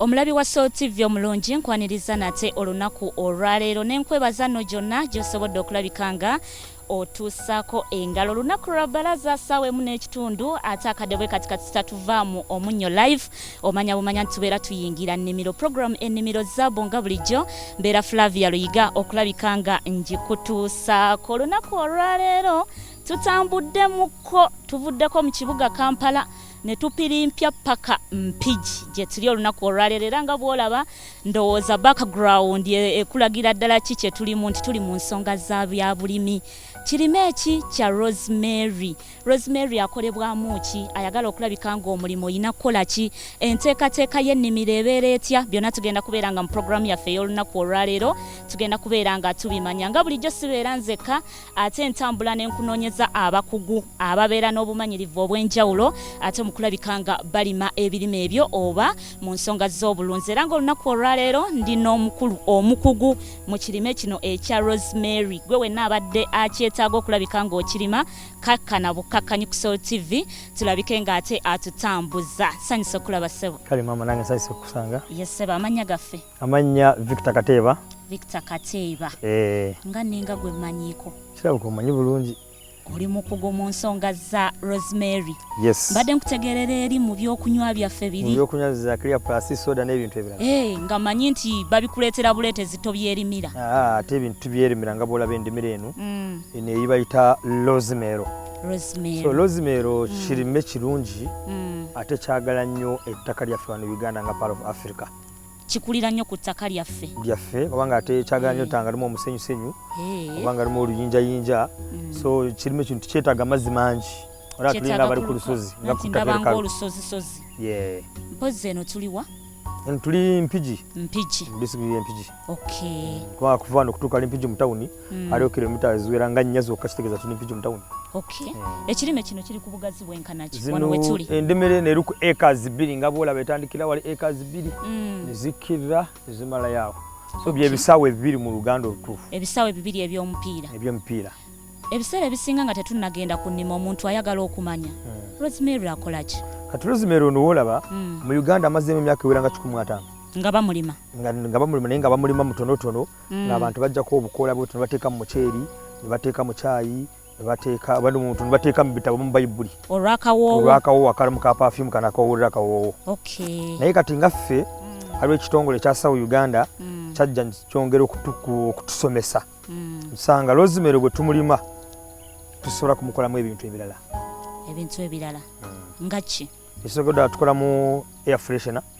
Omulabi wa Soul TV omulungi nkwaniriza nate olunaku olwaleero nenkwebaza no gyonna gyosobodde okulabika nga otuusaako engalo olunaku lwa balaza saawa emu n'ekitundu ate akadde bwe kati kati tatuvaamu omunnyo live omanya bumanya nti tubeera tuyingira nnimiro programu ennimiro zaabu nga bulijjo mbeera flavia luyiga okulabika nga ngikutuusaako olunaku olwaleero tutambuddemuko tuvuddeko mu kibuga kampala ne tupirimpya paka mpigi gye tuli olunaku olwaleero era nga bw'olaba ndowooza background e, ekulagira ddala ki kye tulimu nti tuli mu nsonga za byabulimi kirime eki kya rosemary rosemary akolebwamu ki ayagala okulabika ng'omulimu olina kukola ki enteekateeka y'ennimiro ebeera etya byonna tugenda kubeera nga mu programu yaffe ey'olunaku olwaleero tugenda kubeera nga tubimanya nga bulijjo sibeera nzekka ate entambula n'enkunoonyeza abakugu ababeera n'obumanyirivu obw'enjawulo ate mu kulabika nga balima ebirime ebyo oba mu nsonga z'obulunzi era ng'olunaku olwaleero ndi n'omukulu omukugu mu kirime kino ekya rosemary gwe wenna abadde akyetaaga okulabika ng'okirima kakkana bukkakkanyi ku sol tv tulabike ng'ate atutambuza sanyusa okulaba ssebo kale maama nange sanyusa okukusanga ye ssebo amannya gaffe Amannya Victor Kateeba. Victor Kateeba. Eh. Nga ninga gwe manyiko. Kirabo ko manyi bulungi. Oli mukugu mu nsonga za Rosemary. Yes. Mbadde nkutegerera eri mu byokunywa byaffe biri. Mu byokunywa za clear plus soda n'ebintu ebirala. Eh, nga manyi nti babikuleetera buleete zito byerimira. Ah, ate ebintu byerimira nga bwolaba endimira eno. Mm. Eno eyibayita Rosemary. Rosemary. So Rosemary mm. kirime kirungi. Mm. ate kyagala nnyo ettaka lyaffe wano uganda nga part of africa kikulira nnyo ku ttaka lyaffe lyaffe oba nga ate kyagala nyo tanga limu omusenyusenyu oba nga limu oluyinjayinja mm. so kirimu ekintu kyetaaga amazzi mangi ora tulinga abali ku lusozi nga kutabanga olusozisozi mpozi eno tuliwa tuli mpigi mpigi disitulikiti y'empigi okay kuba kuva wano okutuuka ali mpigi mu tawuni mm. aliwo kilomita eziwera nga nnya zokka kitegeeza tuli mpigi mu tawuni eh. ekirime kino kiri ku bugazi bwenkanaki wano wetuli endimiro eno eri ku acres bbiri nga bwolaba etandikira wali acres bbiri mm. nezikkirira nezimalayo awo so byebisaawa ebibiri mu luganda olutuufu ebisaawa ebibiri ebyomupiira ebyomupiira ebiseera ebisinga nga tetunnagenda ku nnima omuntu ayagala okumanya mm. rosemary akolaki kati rosemary ono wolaba mu uganda amazeemu emyaka ewera nga kikumi ataano nga bamulima nga bamulima naye nga bamulima mutonotono mm. ng'abantu bajjako obukoola bwetu ne bateeka mu muceeri ne bateeka mu caayi nebateeka bali muntu nebateeka mu bitabo mu bayibuli olwakawoowo akalamu ka pafyumu kana akawowolera akawoowo naye kati nga ffe mm. aliwo ekitongole ekya sawu uganda mm. kyajja kyongera okutusomesa mm. nsanga lozimero bwe tumulima tusobola kumukolamu ebintu ebirala ebintu ebirala nga ki ekisokedwa tukolamu air freshona mm.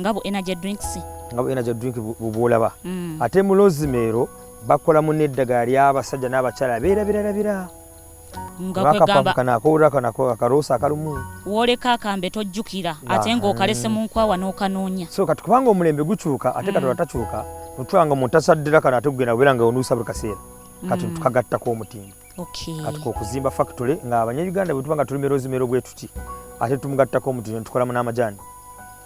nga bu energy drinks nga bu energy drink bubulaba mm. ate mu lozimero bakola mu neddagala ly'abasajja n'abakyala beerabirarabira akarosa akalumu woleka akambe tojjukira ate ng'okalese mu nkwawa n'okanoonya so kati kubanga omulembe gukyuka ate katonda mm. takyuka notwanga omuntu asaddira kano ate kugenda kubeera nga onuusa buli kaseera kati mm. tukagattako omutindo okay. kati kokuzimba factory nga abanyayuganda bwetuba nga tulimira ozimero bwetuti ate tumugattako omutindo tukolamu n'amajaani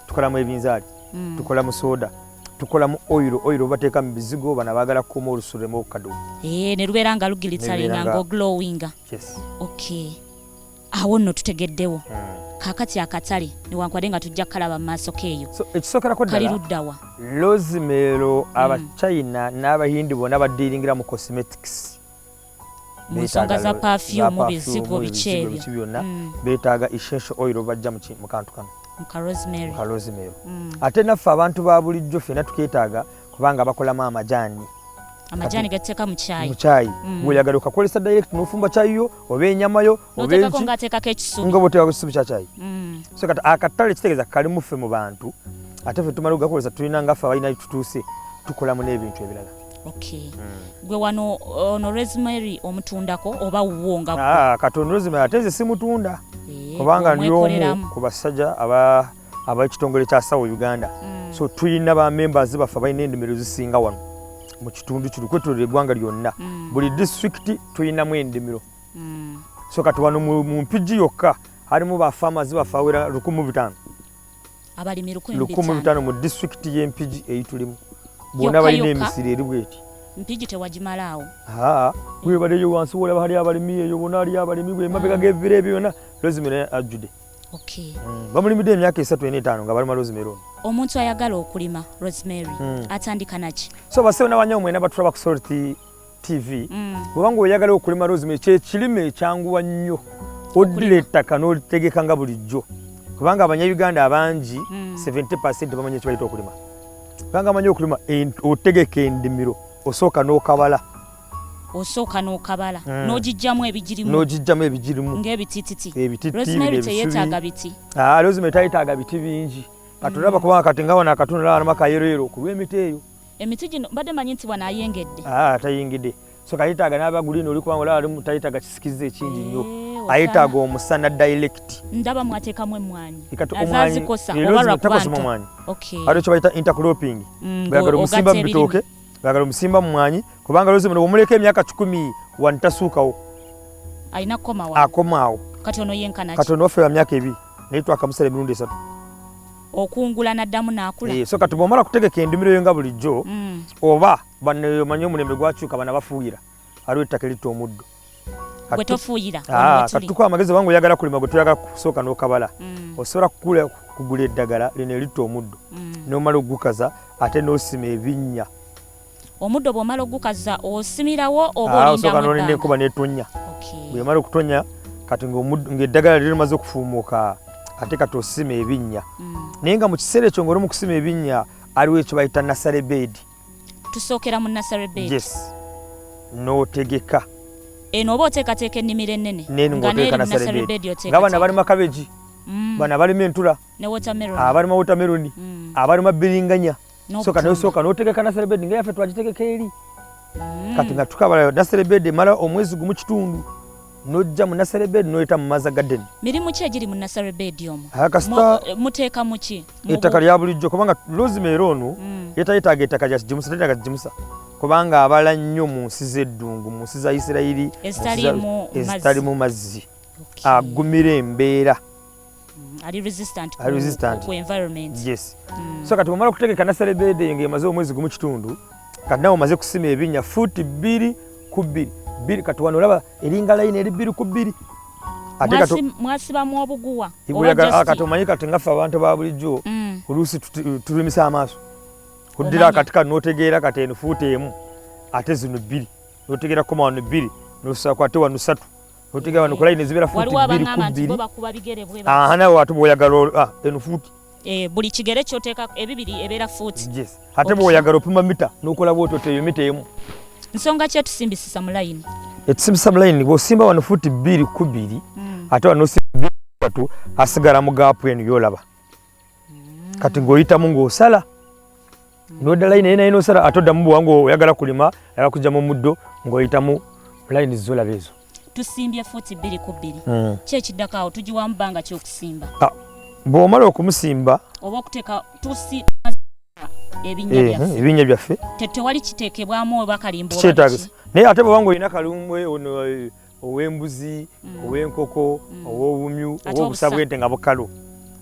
tukolamu ebinzaali mm. tukolamu soda tukolamu oil oil obateeka mu bizigo bana baagala kukuma olusulemu okukadu eh, ne lubeera nga lugilitsalinga nga oglowinga yes. okay. awo nno tutegeddewo mm. kakati akatale newankubadde nga tujja kukalaba mu maaso keeyo so, ekisookerako kali luddawa lozimero abachina mm. n'abahindi bona badiiringira mu cosmetics munsonga za perfume bizigo biki ebyo byonna mm. beetaaga essential oil obajja mu kantu kano muka rosemary muka rosemary mm. ate naffe abantu ba bulijjo ffena tukeetaaga kubanga bakolamu amajaani amajaani gateeka mu caayi mu caayi mm. weeyagala okakozesa direct n'ofumba caayi yo oba enyama yo oba enki nga ateekako ekisubi nga bwoteekako ekisubi kya caayi so kati akatale kitegeeza kalimu ffe mu bantu ate ffe tumala okugakozesa tulina nga ffe abalina tutuuse tukolamu n'ebintu ebirala Okay. Mm. Gwe wano ono rosemary omutundako oba wuwo nga ah, kati ono rosemary ate nze simutunda eh, kubanga ndi omu ku basajja aba abekitongole kya sawa uganda mm. so tulina ba members baffe balina endimiro zisinga wano mu kitundu kino kwetulira eggwanga lyonna mm. buli district tulinamu endimiro mm. so kati wano mu mpigi yokka halimu ba farmers baffe awera lukumi butaano abalimi lukumi lutaano mu disitulikiti y'empigi eyitulimu bwona balina emisiri eri bweti mpigi tewagimalaawo webaleyo wansi wolaba hali abalimi eyo bona ali abalimi bwemabega gevira ebyo byona lozimero ajjude mm, bamulimidde emyaka esatu ena etaano nga balima rosemary ono omuntu ayagala okulima rosemary mm. atandika naki so basewo nabanyawo mwena batulaba ku sorti TV mm. bwoba nga oyagala okulima rosemary kyekirime ekyanguwa nnyo oddira ettaka n'olitegeka nga bulijjo kubanga abanyayuganda abangi 70 mm. bamanyi ekibayita okulima kubanga amanyi okulima otegeka endimiro osooka n'okabala osooka n'okabala mm. n'ogijjamu ebigirimu n'ogijjamu ebigirimu ng'ebitititi ebititirosemary teyetaaga biti ah, rosemary tayetaaga biti bingi katulaba kubanga kati nga wano akatunula anama kayeroyero okulwa emiti eyo Emiti gino mbadde manyi nti wano ayengedde. Ah, atayengedde. So kayetaaga n'aba guliini oli kubanga olaba alimu tayetaaga kisikiza ekingi nnyo. Eh, ayetaaga omusana direct. Ndaba mwateekamu emmwanyi. Azazikosa oba lwa kwanta. Okay. Ate kye bayita intercropping. Mm, Bagala omusimba mu bitooke. Bagala omusimba mu mmwanyi kubanga lozi muno omuleka emyaka kikumi wano tasuukawo. Alina kukomawo. Akomaawo. Kati ono yenkana ki? Kati ono waffe wa myaka ebiri naye twakamusala emirundi esatu. okungula naddamu nakula eh, so kati bwomala kutegeka endimiro yo nga bulijjo mm. oba baneyomanyi omulembe gwakyuka bana bafuuyira aliwo ettaka eritta omuddo ah, katukuwa amagezi obanga oyagala kulima gwe toyagala kusooka n'okabala mm. osobola kukula kugula eddagala lino eritta omuddo mm. nomala okugukaza ate nosima ebinnya omuddo bw'omala ogukaza osimirawo oba ah, olindaosooka nolinda enkuba netonya bwemala okutonya kati ng'eddagala lyo limaze okufuumuuka ate kati osima ebinnya mm. naye nga mu kiseera ekyo ng'oli mu kusima ebinnya aliwo ekyo bayita nasale beedi tusookera mu nasale beedi yes n'otegeka eno oba oteekateeka ennimiro ennene ngaabana balima kabeji mm. bana balima entula abalima wotameroni abalima mm. biringanya soka nayo soka notegeka na celebed nga yafe twagitegeka eri mm. kati nga tukabala na celebed mala omwezi gumu kitundu nojja mu nasale bed noyita mu maza garden mirimu ki egiri mu nasale bed omu kasita muteeka muki ettaka lya bulijjo kubanga rosemary ono mm. yetayetaaga ettaka lyakigimusa tetaaga kigimusa kubanga abala nnyo mu nsi z'eddungu mu nsi za isirayiri ezitalimu mazzi agumira embeera Mm, ali resistant ku, resistant. ku environment yes mm. so kati omala kutegeka nasale bede nga emaze omwezi gumu kitundu kati nawe omaze kusima ebinya futi bbiri ku bbiri bbiri kati wano olaba eringa layini eri bbiri ku bbiri mwasibamu obuguwa ah, kati omanyi kati ngaffe abantu ba bulijjo mm. oluusi tulimisa amaaso oddira akati kano notegeera kati eno fuuti emu ate zino bbiri notegeera koma wano bbiri nosakwate wano satu Otiga wano kulayi ne zibera futi biri ku biri. Aha nawe watu boyagala ah eno futi. Eh buli kigere kyoteka ebibiri ebera futi. Yes. Hate boyagala opima mita nokola bwoto teyo mita emu. Nsonga kye tusimbisisa mu line. Etusimbisa mu line bo simba wano futi biri ku biri. Mm. Ate wano simba biri kwatu asigara mu gap eno yolaba. kati ng'oyitamu ng'osala noda layini naye naye nosala ate oddamu buwanga oyagala kulima oyagala kujja mu muddo ng'oyitamu layini zizolaba ezo tusimbye fuuti bbiri ku bbiri hmm. ki ekiddako awo tugiwamu bbanga kyokusimba ah, bw'omala okumusimba oba okuteeka tusi ebinnya byaffe tetewali kiteekebwamu oba kalimba naye ate bwobanga olina kalumbwe ow'embuzi mm. ow'enkoko mm. ow'obumyu ow'obusa bwente nga bukalu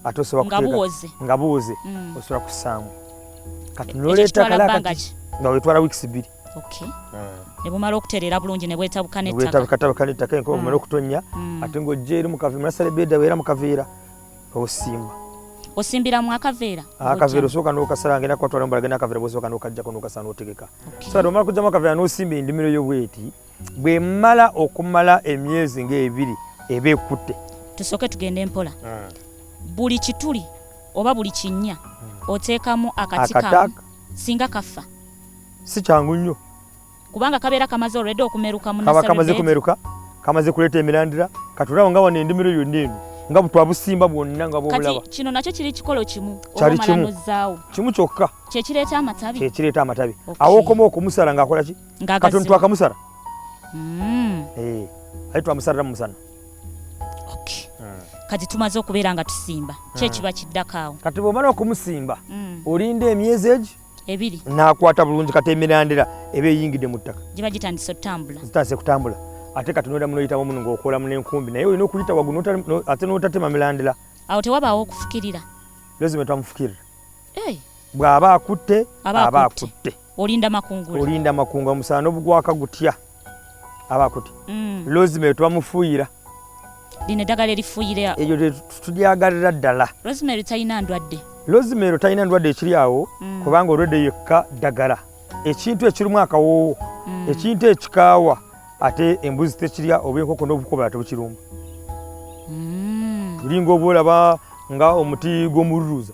ate osobola kuteeka nga buwoze mm. osobola kussaamu kati noleeta kalakati nga wetwala wiikisi bbiri ne bumala okutereera bulungi ne bwetabuka netakabwetabuka nettaka enkoba bumala okutonnya ate ng'ojja eri mukaveera munasala ebeeda weera mukaveera osimba osimbira mu akaveera ah, akaveera osooka nokasala ngenda kwatwala mbalagenda akaveera bwosooka nokajjako nokasala notegeka so ati omala kujjamu akaveera nosimba endimiro yo bweti okay. bwemala okumala emyezi ng'ebiri eba ekutte tusooke tugende mpola ah. buli kituli oba buli kinnya hmm. oteekamu akati kamu singa kaffa si kyangu nnyo kubanga kabeera kamaze olwedde okumeruka kaba kamaze kumeruka kamaze kuleeta emirandira katulawo nga wano endimiro yonna eno nga butwabusimba bwonna nga bwobulaba kino nakyo kiri kikolo kimu kyali kimu kimu kyokka kyekireeta amatabi kyekireeta amatabi awokoma okumusala ng'akola ki katonda twakamusara mm. eh, aye twamusarira mumusana hmm. kati tumaze okubeera nga tusimba hmm. kyekiba kiddako awo kati bwomala okumusimba hmm. olinda emyezi egi ebiri nakwata bulungi kati emirandira eba eyingidde mu ttaka giba gitandise okutambula zitandise kutambula ate kati noyitamu noyitamu muno ngaokolamu nenkumbi naye olina okuyita wagu ate notatema mirandira awo tewabaawo okufukirira lezima twamufukirira hey. bw'aba akutte aba akutte olinda makungula olinda makungula omusana n'obugwaka gutya aba akutte mm. lozima eyo twamufuuyira lino eddagala erifuuyira eyo tulyagalira ddala lozima ero talina ndwadde lozima ero talina ndwadde ekiri awo mm. kubanga olwedde yekka ddagala ekintu ekirimu akawoowo mm. ekintu ekikaawa ate embuzi tekirya oba enkoko n'obukoba ate bukirumba tulinga oba olaba nga omuti gw'omululuuza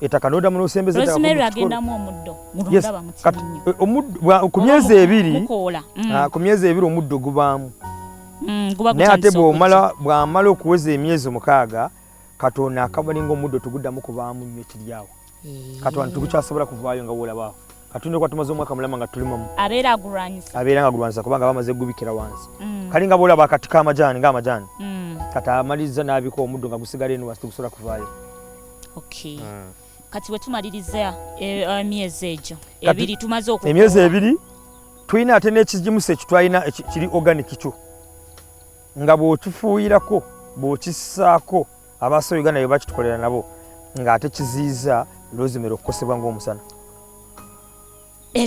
etaka nodamu nosembeza rosemary agendamu omuddo mulondaba mu kinnyo eh, omuddo ku myezi ebiri mukoola mm. ah, ku myezi ebiri omuddo gubaamu mm, naye ate bwomala bwamala okuweza emyezi omukaaga katonda akabalinga omuddo tuguddamu kubaamu nnyo kiryawo eh. katonda tugukyasobola kuvaayo nga wolabaawo katonda okuba tumaze omwaka mulama nga tulimamu abeera agulwanyisa abeera nga agulwanyisa kubanga bamaze gubikira wansi mm. kali nga bwolaba akati kamajaani nga amajaani kati amaliza n'abika omuddo nga gusigala eno wansi tugusobola kuvaayo okay mm. kati wetumaliriza emyezi eh, eh, egyo ebiri tumaze oku emyezi ebiri tulina ate n'ekigimusa ekitwalina kiri organic kyo nga bw'okifuuyirako bw'okisaako abaaso uganda be bakitukolera nabo ng'ate kiziyiza lozimera okukosebwa ng'omusana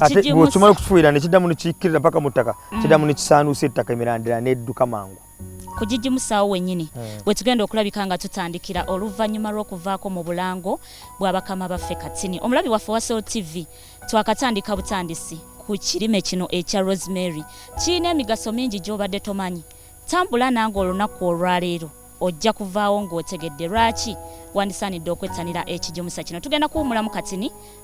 ate bw'okimala okukifuuyira ne kiddamu ne kikkirira mpaka mu ttaka mm. kiddamu ne kisaanuusa ettaka emirandira n'edduka mangu ku gigimusaawo wenyini hmm. wetugenda okulabika nga tutandikira oluvannyuma lw'okuvaako mu bulango bwa bakama baffe katini omulabi waffe wa sol tv twakatandika butandisi ku kirime kino ekya rosemary kirina emigaso mingi gy'obadde tomanyi tambula nange olunaku olwaleero ojja kuvaawo ng'otegedde lwaki wandisaanidde okwettanira ekigimusa kino tugenda kuwumulamu katini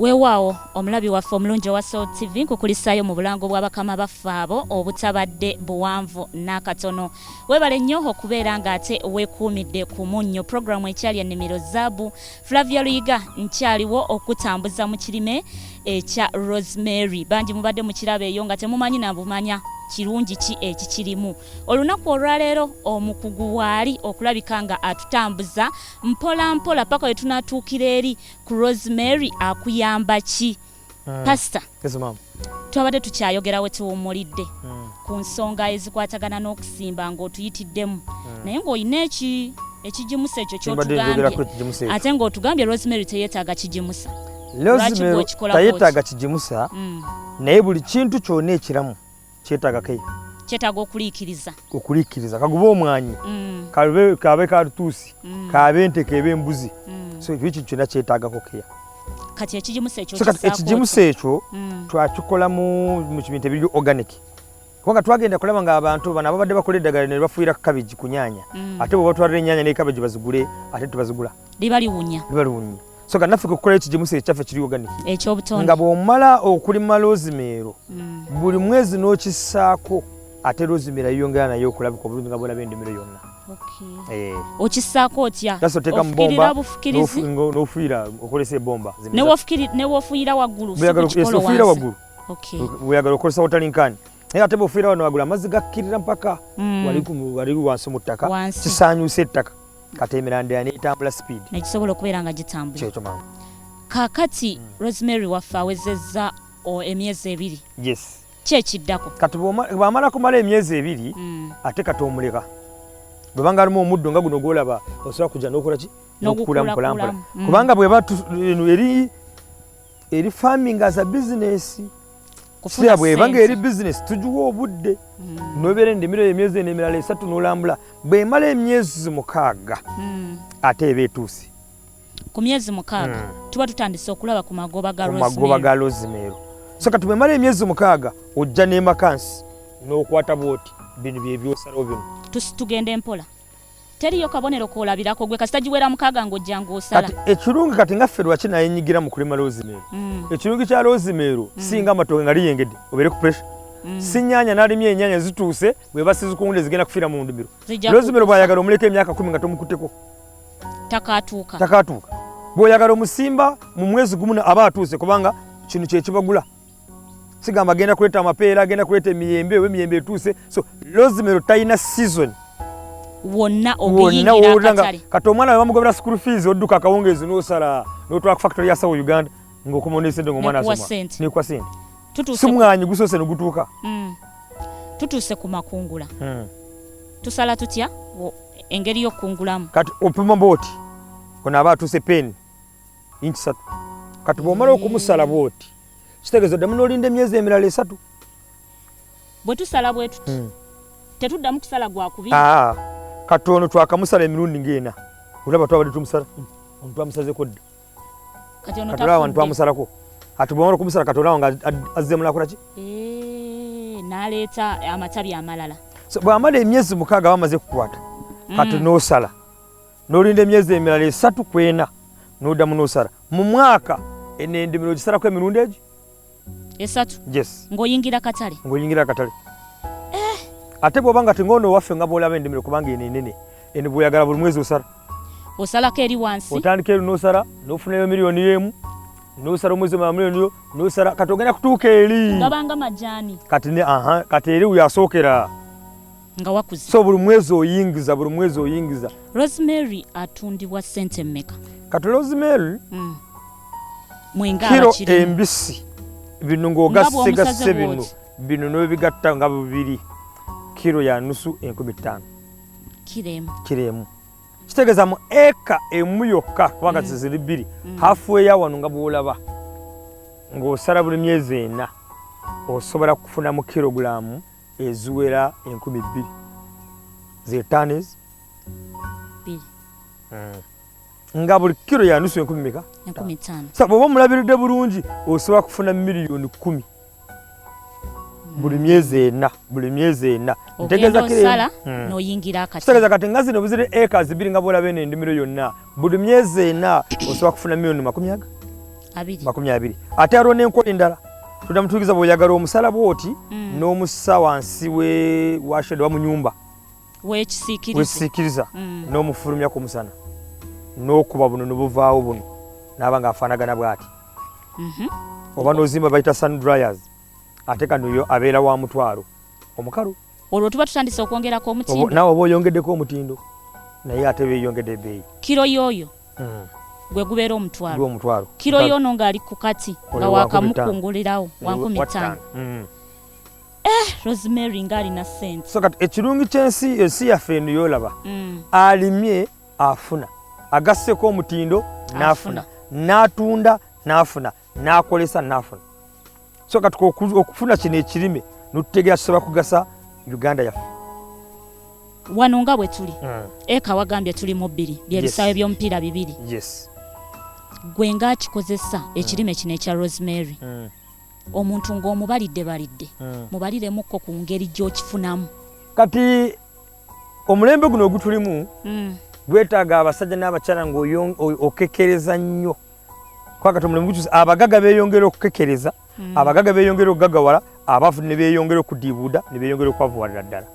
weewaawo omulabi waffe omulungi owa soul tv nkukulisaayo mu bulango bwa bakama baffe abo obutabadde buwanvu n'akatono weebale nnyo okubeera ng'ate weekuumidde ku munnyo puroguramu ekyali ennimiro zaabu flavia luyiga nkyaliwo okutambuza mu kirime ekya rosemary bangi mubadde mu kirabo eyo nga temumanyi nabumanya kirungi ki ekikirimu olunaku olwaleero omukugu waali okulabika nga atutambuza mpola mpola paka lwe tunatuukira eri ku rosemary akuyamba ki hmm. pasita twabadde tukyayogera we tuwummulidde hmm. ku nsonga ezikwatagana n'okusimba ng'otuyitiddemu hmm. naye ng'olina eki ekigimusa ekyo kyotugambye ate ng'otugambye rosemary teyeetaaga kigimusa tayetaaga kigimusa naye buli kintu kyona ekiramu kyetaaga ke kyetaaga okuliikiriza okuliikiriza kagube omwanyi mm. kabe kabe katuusi mm. kabe nte kebe mbuzi mm. so ekyo kintu kyonna kyetaagako keya kati ekigimusa ekyo kati ekigimusa ekyo mm. twakikola mu mu kibintu ebiri organic kubanga twagenda kulaba nga abantu bano ababadde bakola eddagala ne bafuuyira kabegi ku nyaanya mm. ate bwe batwalira enyaanya ne kabegi bazigule ate tubazigula liba liwunya liba liwunya so nga naffe kukola ekyo gyemusa ekyaffe kiri oganiki ekyobutonde nga bw'omala okulima loozimeero mm. buli mwezi n'okisaako ate loozimeero yeyongera naye okulabika obulungi nga bwolaba endimiro yonna eh. okisaako otya ofukirira bufukirizi n'ofuira okozesa ebomba newofuira waggulu sikukikolowofuyira waggulu weyagala okozesa wotalinkani naye ate bwofuira wano wagula amazzi gakkirira mpaka mm. wali wansi mu ttaka kisaanyusa ettaka kati emirandira netambula speed negisobola okubeera nga gitambula kyekyo mama kakati mm. rosemary waffe awezezza emyezi ebiri yes kyekiddako kati bwamala kumala emyezi ebiri mm. ate kati omuleka bwebanga alimu omuddo nga guno gwolaba osobola kuja nokolaki nokukula mpolampola mm. kubanga bweba eri eri farming as a business siya bweba nga eri bizinesi tugiwa obudde hmm. nobeera endimiro emyezi eno emirala esatu nolambula bwemala emyezi mukaaga hmm. ate eba etuusi ku myezi mukaaga hmm. tuba tutandise okulaba ku magoba ga rosemero so kati bwemala emyezi mukaaga ojja nemakansi nokwata bwoti bino byebyosalawo bino tugende mpola teriyo kabonero kolabirako gwe kasita giwera mukaaga ng'ojja ng'osala kati ekirungi kati nga ffe lwaki naye nyigira mu kulima loozimeero mm. ekirungi kya loozimeero mm. singa amatooke nga liyengedde obeere ku pressure mm. sinyanya nalimye enyanya zituuse bweba sizikunde zigenda kufiira mu ndimiro loozimeero bwayagala omuleka emyaka kumi nga tomukutteko takatuuka takatuuka bwoyagala omusimba mu mwezi gumu aba atuuse kubanga kino kyekibagula sigamba agenda kuleeta amapeera agenda kuleeta emiyembe oba emiyembe etuuse so lozimero talina season wonna okuyingira kati omwana we bamugobera school fees odduka akawungeezi n'osala n'otwala ku factory ya sawo uganda ng'okomaonayo sente ngaomwana asoma nekuwa sente simwanyi gusoose negutuuka mm. tutuuse ku makungula hmm. tusala tutya engeri y'okukungulamu kati opima booti ono aba atuuse peeni inki satu kati bw'omala okumusala booti kitegeeza oddamu n'olinda emyezi emirala esatu bwe tusala bwe tuti hmm. tetuddamu kusala gwa kubi ah, kati ono twakamusala emirundi ng'ena olaba twabadde tumusala hmm. ono twamusazeko dda kati olaba wano twamusalako kati bwewala okumusala kati olaba nga azze mulakolaki eh, naleeta amatabi amalala bwamala emyezi mukaaga bamaze kukwata kati hmm. n'osala n'olinda emyezi emirala esatu ku ena n'oddamu n'osala mu mwaka eno endimiro ogisalaku emirundi egi esatu yes ng'oyingira katale ng'oyingira akatale eh. ate bw'oba nga ting'ono owaffe nga bw'olaba endimiro kubanga eno enene eno bw'oyagala buli mwezi osala osalako eri wansi otandika eri n'osala n'ofunayo miliyoni y'emu nosala omwezi omala muliyoni yo nosala kati ogenda kutuuka eri gabanga majani kati ne aha kati eri uyasookera nga wakuze so buli mwezi oyingiza buli mwezi oyingiza rosemary atundibwa sente mmeka kati rosemary mm. mwengakiro embisi bino ngaogasigase bino bino nobigatta nga bubiri kiro ya nusu enkumi ttaano kiremu kitegeeza mu eka emu yokka kubanga mm. ziziri bbiri mm. hafu eya wano nga bwolaba ng'osala buli myezi ena osobola kufunamu kirogulaamu eziwera enkumi bbiri ze tanis bbiri hmm. nga buli kiro yanusu enkumi meka enkumi ttaano sa bwoba omulabiridde bulungi osobola kufuna miliyoni kkumi buli myezi ena buli myezi ena ntegeeza kati nga zino buzire eka zibiri nga bwolaba eno endimiro yonna buli myezi ena osobola kufuna milioni makumi aga makumi abiri ate aliwo n'enkola endala tunda mutuukiza bw'oyagala omusala bwoti mm. n'omusa wansi we washede wa mu nyumba wekisiikiriza mm. n'omufulumya ku musana n'okuba buno nobuvaawo buno naaba nga afaanagana bw'ati mhm. oba n'ozimba bayita sun dryers ate kanoyo abeera wa mutwalo omukalu olwo tuba tutandise okwongerako omutindo nawe oba oyongeddeko omutindo naye ate beyongedde ebeeyi kiro yoyo hmm. gwe gubeera omutwalo kiro yono ngaali ku kati nga wakamukungulirawo wankumi ttaano hmm. eh, rosemary ngaalina sente so kati ekirungi kyensi ensi yaffe eno yolaba hmm. alimye afuna agasseko omutindo nafuna natunda nafuna n'akolesa n'afuna so kati okufuna kino ekirime notutegera kisobola kugasa uganda yaffe wano nga bwe tuli mm. eka wagambye tuli mu bbiri byebisaawe yes. by'omupiira bibiri yes. gwe ngaakikozesa mm. ekirime kino ekya rosemary mm. omuntu ng'omubalidde balidde mm. mubaliremukko ku ngeri gy'okifunamu kati omulembe guno ogutulimu mm. gwetaaga abasajja n'abakyala ng'okekereza nnyo kwagata omulimu gukyuse abagaga beyongera okukekereza mm. abagaga beyongera okugagawala abafu ne beyongera okudiibuuda ne beyongera okwavuwalira ddala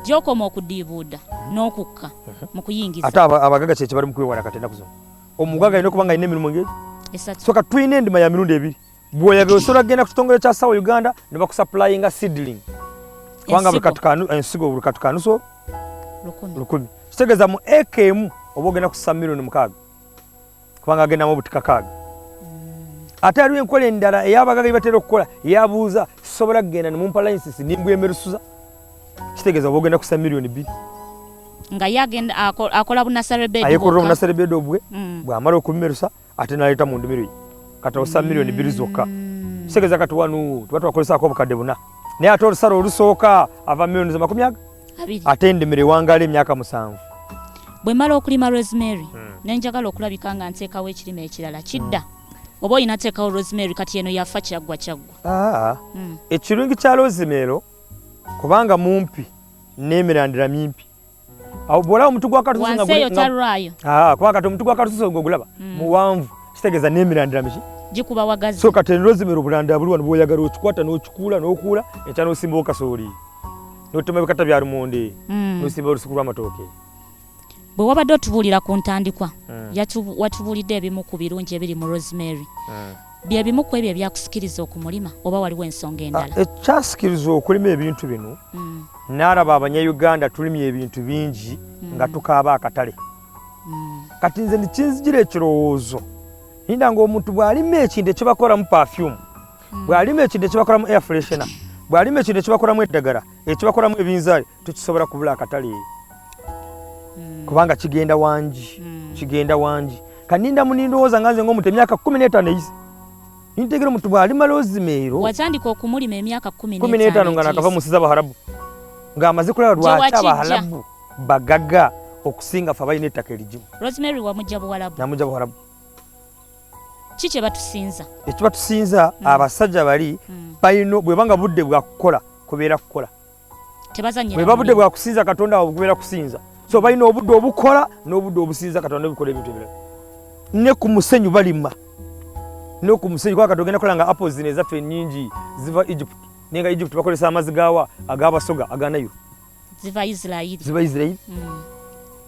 gyokoma okudiibuuda n'okukka mhm. mu kuyingiza ate abagaga kyekyo bali mu kwewala kati ennaku zino omugaga alina okuba nga alina emirimu ngeri soka tulina endima ya mirundi ebiri bwoyaga osobola kugenda ku kitongole kya sawa uganda ne bakusaplayinga sidling kubanga ensigo buli katukanuso lukumi kitegeeza mu eka emu oba ogenda kusa milioni mukaaga kubanga agendamu obutikakaaga ate aliwo enkola endala eyabagaga batera okukola yabuuza sisobola kugenda nemumpa license nimbwa emerusuza kitegeeza oba ogenda kusa miliyoni bbiri nga yagenda akola bunasarebedayekolera obunasarebeda obwe mm. bwamala okubimerusa ate naleeta mu ndimiro ye kati osa miliyoni bbiri zokka mm. kitegeeza kati wanu tuba twakolesaako obukadde buna naye ate olusala olusooka ava miliyoni zamakumi aga ate endimiro ewangaala emyaka musanvu bwe mala okulima rosemary hmm. ne njagala okulabika nga nteekawo ekirime ekirala kidda hmm. oba olina teekawo rosemary kati eno yafa kyaggwa kyaggwa ah, hmm. ekirungi kya rosemero kubanga mumpi n'emirandira mimpi awo bwolaba omutu gwa katuseyotalwayo ah, kubanga kati omutu gwa katususe ogulaba muwanvu kitegeeza n'emirandira miki gikuba wagazi so kati eno rosemero obulandira buli wano bwoyagala okikwata n'okikuula n'okuula ekya n'osimbawo kasooli n'otema ebikata bya lumonde mm. n'osimba olusuku lw'amatooke bwe wabadde otubuulira ku ntandikwa mm. watubuulidde ebimu ku birungi ebiri mu rosemary mm. bye bimu ku ebyo ebyakusikiriza okumulima oba waliwo ensonga ah, endala ekyasikiriza okulima ebintu bino mm. naalaba abanyayuganda tulimye ebintu bingi mm. nga tukaaba akatale mm. kati nze nikinzijira ekirowoozo ninda ngaomuntu bw'alima ekintu ekibakoramu pafyumu hmm. bw'alima ekide kibakolamu air freshena bw'alima ekide kibakolamu eddagala ekibakolamu ebinzaali tukisobola kubula akatale hmm. kubanga kigenda wangi hmm. kigenda wangi kaninda munindowooza nga nze ngaomuntu emyaka kumi n'etaano eyize nintegera omuntu bw'alima lozimeero watandika okumulima emyaka kumi n'etaano nga nakava mu nsi z'abaharabu ng'amaze kulaba lwaki abaharabu bagaga okusinga fe abalina ettaka erigimu rosemary wamujja buwalabu namujja buwalabu ki kye batusinza ekiba tusinza mm. abasajja bali mm. balina bwebanga budde bwa kukola kubeera kukola bweba budde bwa kusinza katonda wabwe kubeera kusinza so balina obudde obukola n'obudde obusinza katonda obikola ebintu ebirala ne ku musenyu balima ne ku musenyu kuba katonda ogenda kola nga apple zino ezaffe enyingi ziva egypt naye nga egypt bakozesa amazzi gawa agabasoga aganayo ziva isirairi ziva isirairi mm.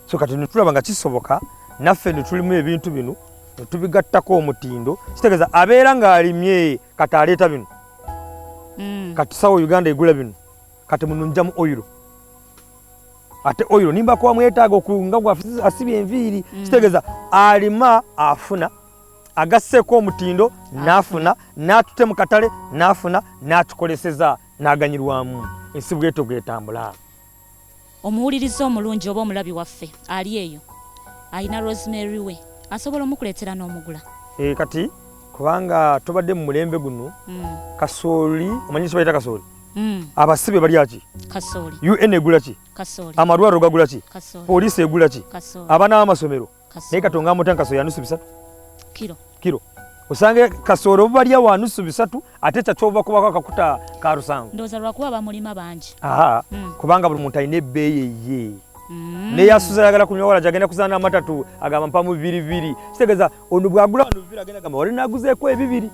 so kati netulaba nga kisoboka naffe netulimu ebintu bino netubigattako omutindo kitegeeza abeera ng'alimye kati aleeta bino mm. kati sawa uganda egula bino kati mununjamu oyiro ate oyiro nimba kuba mwetaaga okunga gwasibye enviiri mm. kitegeeza alima afuna agasseeko omutindo n'afuna n'atute mu katale n'afuna n'atukoleseza n'aganyirwamu ensi bw'etyo bw'etambula. Omuwuliriza omulungi oba omulabi waffe ali eyo alina Rosemary we asobola omukuleetera n'omugula. Eh, kati kubanga tubadde mu mulembe guno mm. kasooli omanyi kibayita kasooli mm. abasibe balya ki un egula ki amalwaliro gagula ki poliisi egula ki abaana b'amasomero naye katonga amuta nkaso yanusu bisatu kiro kiro osange kasoro balya wanusu bisatu ate kyakyova kubako akakuta ka lusango ndoza lwakuba bamulima bangi aha mm. kubanga buli muntu alina ebbeeyi eye mm. naye asuza ayagala kunywa wala gyagenda kuzaana amatatu agamba mpamu bibiri bibiri kitegeeza ono bwagula wano bibiri agenda gamba wali naguzeeko ebibiri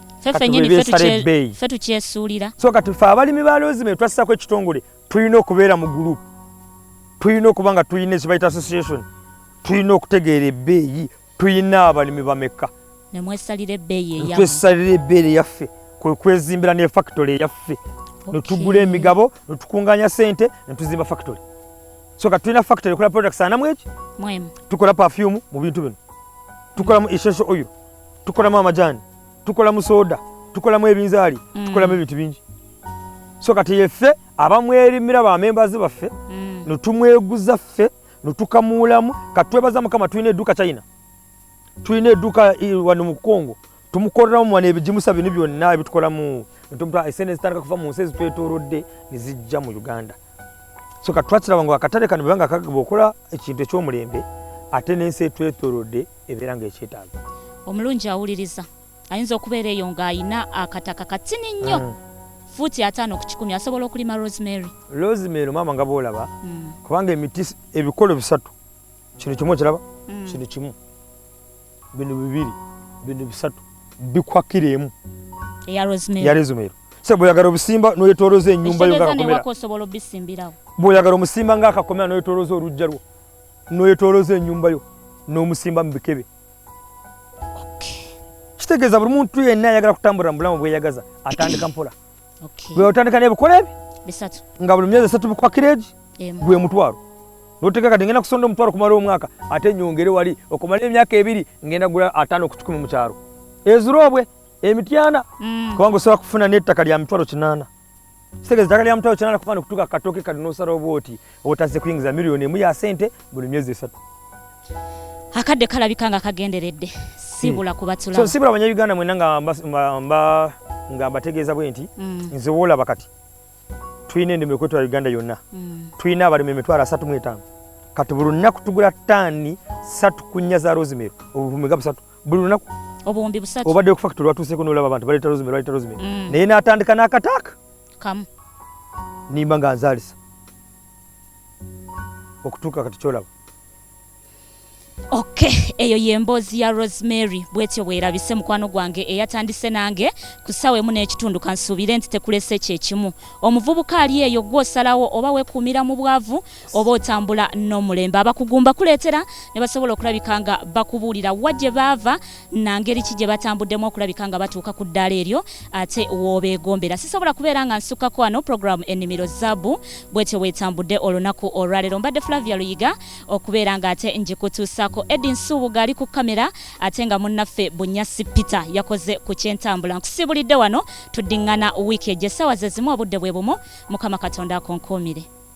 ffe tukyesuulira so kati ffe abalimi ba loozi me twassako ekitongole tulina okubeera mu group tulina okuba nga tulina ezibayita association tulina okutegeera ebbeeyi tulina abalimi bamekka nemwesalira ebbeeyi yaffe kwekwezimbira ne factory yaffe netugula emigabo netukunganya sente netuzimba factory so kati tulina factory ekola products anamu eki tukola perfume mu bintu bino tukolamu essential oil tukolamu amajani tukola mu soda tukolamu ebinzaali mm. tukolamu ebintu bingi so kati yeffe abamwerimira bamembazi baffe mm. netumweguza ffe netukamuulamu kati twebaza mukama tulina edduuka china tulina edduuka wano mu congo tumukoleramu wano ebigimusa bino byonna ebitukolamu esente zitandika kuva mu nsi ezitwetorodde nezijja mu uganda so kati twakiraba nga akatale kano bwebanga kagaba okola ekintu ekyomulembe ate nensi etwetorodde ebeera ng'ekyetaaga omulungi awuliriza ayinza okubeera eyo ng'alina akataka katini nnyo mm. fuuti ataano ku kikumi asobola okulima rosemary rosemary maama nga boolaba mm. kubanga emiti ebikolo bisatu kino kimu okiraba mm. kino kimu bino bibiri bino bisatu bikwakira emu eya rosemary se bweyagala obusimba noyetoloza enyumba yo bweyagala omusimba ngaakakomera noyetoloza olujja lwo noyetoloza enyumba yo nomusimba mubikebe kitegeeza buli muntu yenna ayagala kutambulira mubulamu bweyagaza atandika mpola bweotandika nebikola ebi nga buli myezi esatu bikwakireegi gwe mutwalo noteka kati ngenda kusonda omutwalo kumala omwaka ate nyongere wali okumala emyaka ebiri ngenda gula ataano kukikumi mukyalo ezirobwe emityana mm. kubanga osobola kufuna nettaka lya mitwalo kinaana kitegeeza eddagala lya mutala kyana kufaana okutuuka katooke kati n'osala obwoti obutazze kuyingiza miliyoni emu ya sente buli myezi esatu akadde kalabika nga kagenderedde sibula hmm. kubatula so sibula abanya uganda mwena nga mba nga mbategeeza bwe nti hmm. nze woolaba kati tulina endimu ekwetwa uganda yonna hmm. tulina abalimi emitwalo asatu mu etaano kati buli lunaku tugula taani satu kunnya za rosemary obuvumiga busatu buli lunaku obuwumbi busatu obadde ku factory watuuseeko n'olaba abantu baleeta rozime baleeta rozime mm. naye n'atandika n'akataaka kamu nimba nga nzaalisa okutuuka kati kyolaba ok eyo yemboozi ya rosemary bwetyo bwerabise mukwano gwange eyatandise nange ku ssaawa emu n'ekitundu kansuubire nti tekulese kyekimu omuvubuka ali eyo gwosalawo oba wekuumira mu bwavu oba otambula n'omulembe abakugumba kuleetera ne basobola okulabika nga bakubuulira wa gye baava na ngeri ki gye batambuddemu okulabika nga batuuka ku ddaala eryo ate woobeegombera sisobola kubeera nga nsukkako wano puroguramu ennimiro zaabu bwetyo bwetambudde olunaku olwaleero mbadde flavia luyiga okubeera nga ate ngikutuusaako edi nsuubuga ali ku kamera ate nga munnaffe bunyasi peter yakoze ku kyentambula nkusibulidde wano tuddiŋŋana wiiki egyo essaawa ze zimu obudde bwe bumu mukama katonda akonkuumire